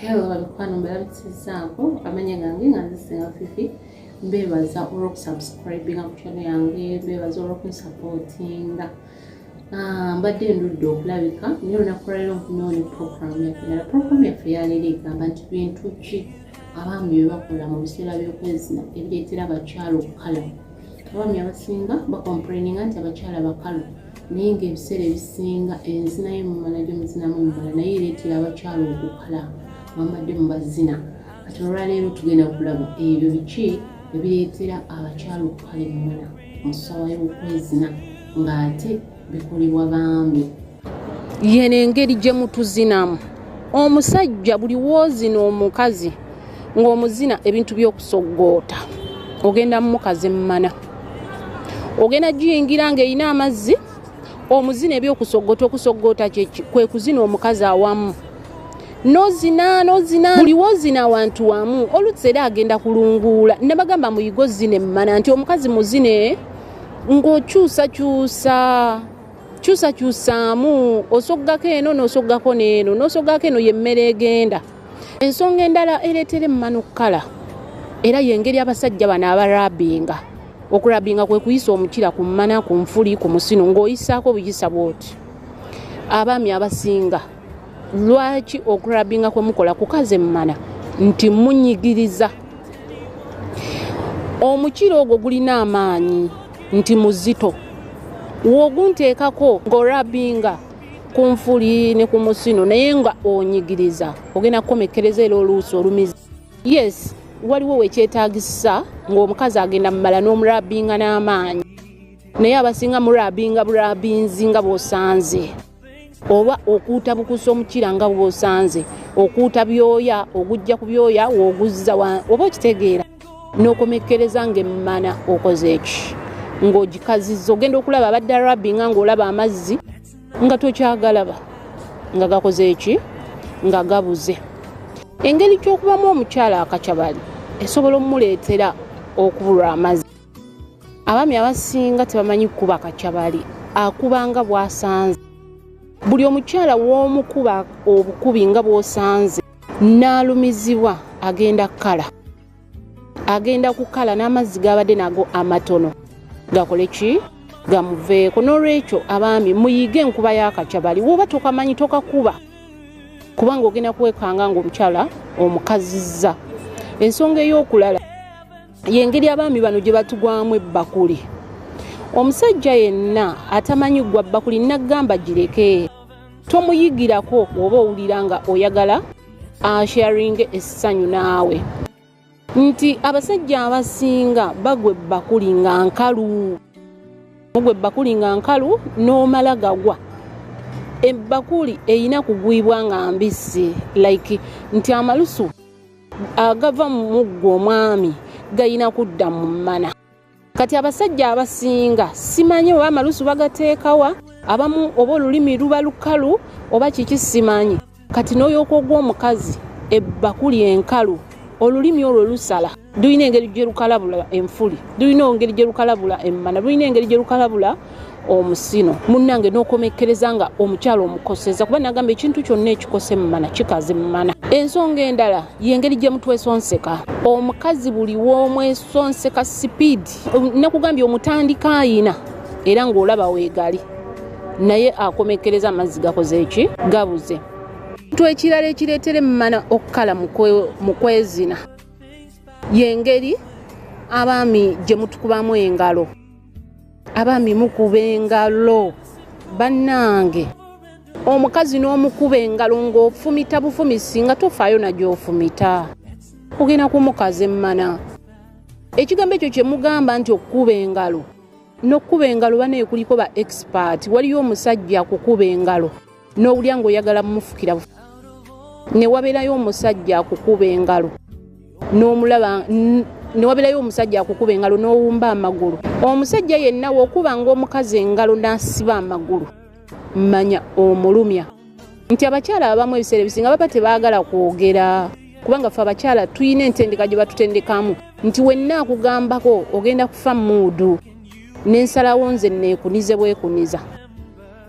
Hello balukwano mbalabisizaako amanya gange nga nzisinga fifi mbeebaza olwokusubscribinga ku channel yange mbeebaza olwokunsupportinga ah, mbadde ndudde okulabika naye olunaku lwalero nfunyewo ne program yaffe nala program yaffe yaleero egamba nti bintu ki abaami bye bakola mu biseera by'okwezina ebireetera abakyala okukala abaami abasinga bakomplaininga nti abakyala bakalu naye ng'ebiseera ebisinga enzina yo mumala gyo muzinamu mubala naye ereetera abakyala okukala bambadde mubazina kati olwaleero tugenda kulaba ebyo biki ebireetera abakyala okukala emumala mu ssaawa y'okwezina ng'ate bikolebwa bambi yeno engeri gye mutuzinamu omusajja buli woozina omukazi ng'omuzina ebintu by'okusoggoota ogenda mumukaze mumana ogenda giyingira ng'erina amazzi omuzina ebyokusoggoota okusoggoota kyeki kwe kuzina omukazi awamu nozina nozina buli wozina awantu wamu oluzza era agenda kulunguula ne bagamba muyigo zina emmana nti omukazi muzine ng'okyusakyusa kyusakyusaamu osoggako eno n'osoggako n'eno n'osoggako eno y'emmere egenda ensonga endala ereetera emmanu kukala era yengeri abasajja bano abarabinga okurabinga kwe kuyisa omukira ku mmana ku nfuli ku musino ng'oyisaako buyisa bwoti abaami abasinga lwaki okurabinga kwe mukola kukaza emmana nti munyigiriza omukira ogwo gulina amaanyi nti muzito wogunteekako ng'orabinga kunfuli ne ku musino naye nga onyigiriza ogenda kukomekereza era oluusi olumiza yes waliwo wekyetagisa ngaomukazi agenda mumala n'omurabinga n'amaanyi naye abasinga murabinga burabinzi nga bwosanze oba okuuta bukusa omukira nga bwosanze okuuta byoya ogujja ku byoya woguzza oba okitegeera n'okomekkereza ng'emmana okoze eki ng'ogikazizza ogenda okulaba abadde arabi nga ng'olaba amazzi nga tokyagalaba nga gakoze eki nga gabuze engeri gy'okubamu omukyala akacabali esobola omuleetera okubulwa amazzi abaami abasinga tebamanyi kukuba kacabali akubanga bwasanze buli omukyala w'omukuba obukubi nga bw'osanze n'alumizibwa agenda kukala agenda kukala n'amazzi g'abadde nago amatono gakole ki gamuveeko n'olwekyo abaami muyige enkuba y'akacabali woba tokamanyi tokakuba kubanga ogenda kuwekanga ng'omukyala omukazizza ensonga ey'okulala yengeri abaami bano gye batugwamu ebbakuli omusajja yenna atamanyi ggwa bbakuli nagamba gireke tomuyigirako oba owulira nga oyagala asharinge essanyu naawe nti abasajja abasinga bagwe bakuli nga nkalu mugwe bakuli nga nkalu n'omala gagwa ebbakuli erina kugwibwa nga mbisi like nti amalusu agava mu muggo omwami galina kudda mu mmana kati abasajja abasinga simanyi oba amalusu bagateekawa abamu oba olulimi luba lukalu oba kiki simanyi kati n'oyooka ogw'omukazi ebbakuli enkalu olulimi olwo lusala lulina engeri gye lukalabula enfuli lulina engeri gye lukalabula emmana lulina engeri gye lukalabula omusino munnange n'okomekkereza nga omukyalo omukoseza kuba nagamba ekintu kyonna ekikose mumana kikazi mumana ensonga endala yengeri gye mutwesonseka omukazi buli w'omwesonseka sipiidi nakugambye omutandika ayina era ng'olaba weegali naye akomekkereza amazzi gakoze eki gabuze kintu ekirala ekireetera emmana okukala mu kwezina y'engeri abaami gye mutukubamu engalo abami mukuba engalo bannange omukazi n'omukuba engalo ng'ofumita bufumisi nga tofaayo nagyofumita kugenda kumukaza emmana ekigambo ekyo kye mugamba nti okukuba engalo n'okukuba engalo banaye kuliko ba expert waliyo omusajja akukuba engalo n'owulira ng'oyagala mumufukira ne wabeerayo omusajja akukuba engalo n'omulaba ne wabeerayo omusajja akukuba engalo n'owumba amagulu omusajja yenna wokuba ng'omukazi engalo n'asiba amagulu manya omulumya nti abakyala abamu ebiseera ebisinga baba tebaagala kwogera kubanga ffe abakyala tulina entendeka gye batutendekamu nti wenna akugambako ogenda kufa muudu n'ensalawo nze neekunize bwekuniza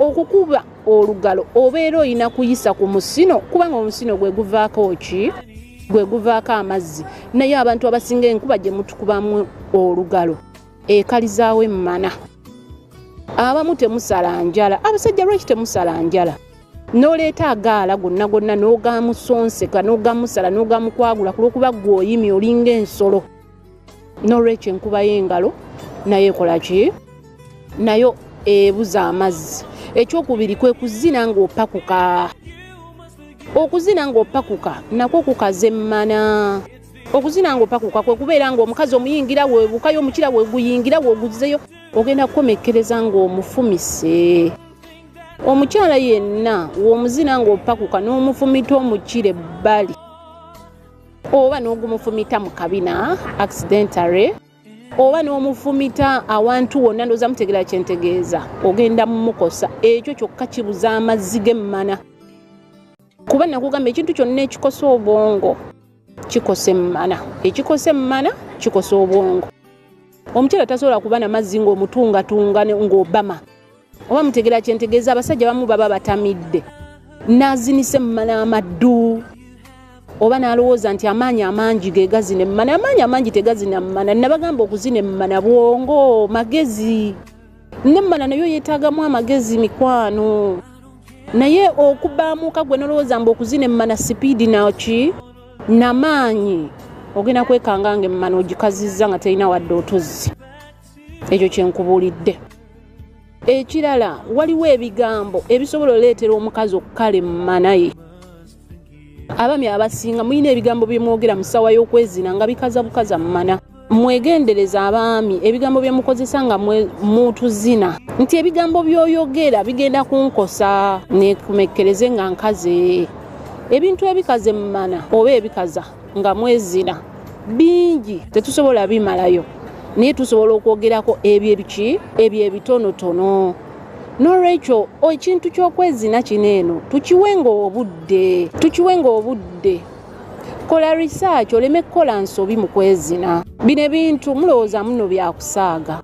okukuba olugalo obeera olina kuyisa ku musino kubanga omusino gwe guvaako ki gwe guvaako amazzi naye abantu abasinga enkuba gye mutukubamu olugalo ekalizaawo emmana abamu temusala njala abasajja lwaki temusala njala noleeta agaala gonna gonna n'ogamusonseka n'ogamusala n'ogamukwagula kulwokuba gweoyimi olinga ensolo nolwekyo enkuba y'engalo naye ekola ki nayo ebuza amazzi ekyokubiri kwe kuzina ng'opakuka okuzina ng'opakuka nakwo kukaza emmana okuzina ng'opakuka kwe kubeera ng'omukazi omuyingira webukayo omukira weguyingira weguzeyo ogenda kukomekkereza ng'omufumise omukyala yenna w'omuzina ng'opakuka n'omufumita omukire bbali oba n'ogumufumita mu kabina accidentary oba n'omufumita awantu wonna ndooza mutegera kyentegeeza ogenda mumukosa ekyo kyokka kibuza amazzi g'emmana kuba nakugamba ekintu kyonna ekikosa obwongo kikosa emmana ekikosa emmana kikosa obwongo omukyala tasobola kuba na mazzi ng'omutungatunga ng'obama oba mutegera kyentegeeza abasajja bamu baba batamidde nazinise mumala amaddu oba nalowooza nti amaanyi amangi gegazina emumana amaanyi amangi tegazina mumana nabagamba okuzina emumana bwongo magezi nemmana nayo yetaagamu amagezi mikwano naye okubaamuuka gwe nolowooza mbu okuzina emmana sipiidi naki namaanyi ogenda kwekanga nga emmana ogikazizza nga terina wadde otuzzi ekyo kyenkubuulidde ekirala waliwo ebigambo ebisobola oleetera omukazi okukala emmanaye abami abasinga mulina ebigambo byemwogera mu ssaawa y'okwezina nga bikaza bukaza mumana mwegendereza abaami ebigambo byemukozesa nga mutuzina nti ebigambo byoyogera bigenda kunkosa nekumekkereze nga nkaze ebintu ebikaze mumana oba ebikaza nga mwezina bingi tetusobola bimalayo naye tusobola okwogerako ebyo ebiki ebyo ebitonotono n'olwekyo ekintu ky'okwezina kino eno tukiwenga obudde tukiwenga obudde kola research oleme kukola nsobi mu kwezina bino ebintu mulowooza muno byakusaaga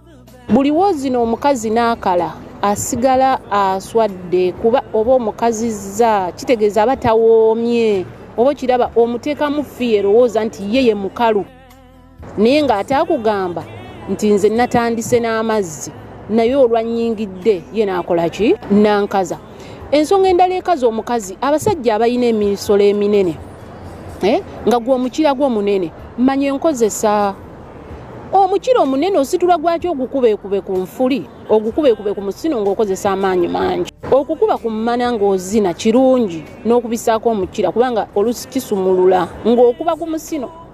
buli woozina omukazi n'akala asigala aswadde kuba oba omukazizza kitegeeza aba tawoomye oba okiraba omuteekamu fi erowooza nti ye ye mukalu naye ng'ate akugamba nti nze natandise n'amazzi naye olwannyingidde ye naakola ki nankaza ensonga endala ekaza omukazi abasajja abalina emiisolo eminene eh, nga gwe omukira gwo munene manya enkozesa omukira omunene ositula gwaki ogukubeekube ku nfuli ogukubeekube ku musino ng'okozesa amaanyi mangi okukuba ku mmana ng'ozina kirungi n'okubisaako omukira kubanga olusi kisumulula ng'okuba ku musino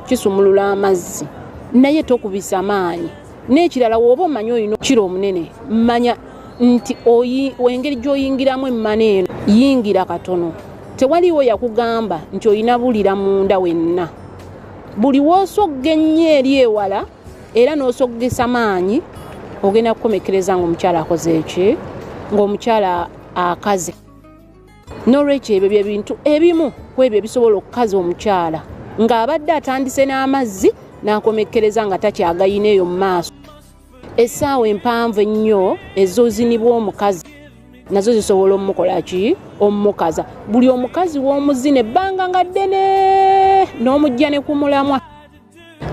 kisumulula amazzi naye tokubisa maanyi n'ekirala wooba omanyi olina okukira omunene manya nti engeri gy'oyingiramu emmana eno yingira katono tewaliwo yakugamba nti olina bulira munda wenna buli w'osogga ennyo eri ewala era n'osoggesa maanyi ogenda kukomekereza ng'omukyala akoze eki ng'omukyala akaze n'olwekyo ebyo bye bintu ebimu ku ebyo ebisobola okukaza omukyala ng'abadde atandise n'amazzi n'akomekkereza nga takyagayina eyo mu maaso essaawa empanvu ennyo ezozinibwa omukazi nazo zisobola omukola ki omukaza buli omukazi w'omuzina ebbanga nga ddene n'omujja ne ku mulamwa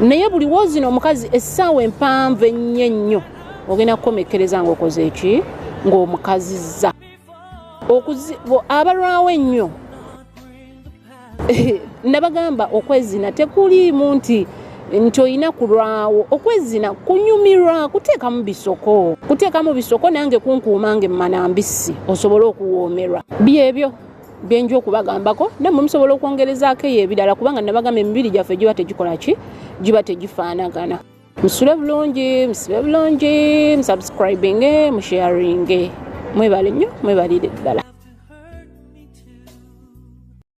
naye buli woozina omukazi essaawa empanvu ennyo ennyo ogenda kukomekkereza ng'okoze eki ng'omukazizza abalwawo ennyo nabagamba okwezina tekuliimu nti nti olina kulwawo okwezina kunyumirwa kuteekamu bisoko kuteekamu bisoko nange kunkuuma nge mumana mbisi osobole okuwoomerwa byebyo byenja okubagambako namwe musobola okwongerezaako eyo ebirala kubanga nabagamba emibiri gyaffe giba tegikola ki giba tegifaanagana musule bulungi musibe bulungi musubscribinge musharinge mwebale nnyo mwebalire ddala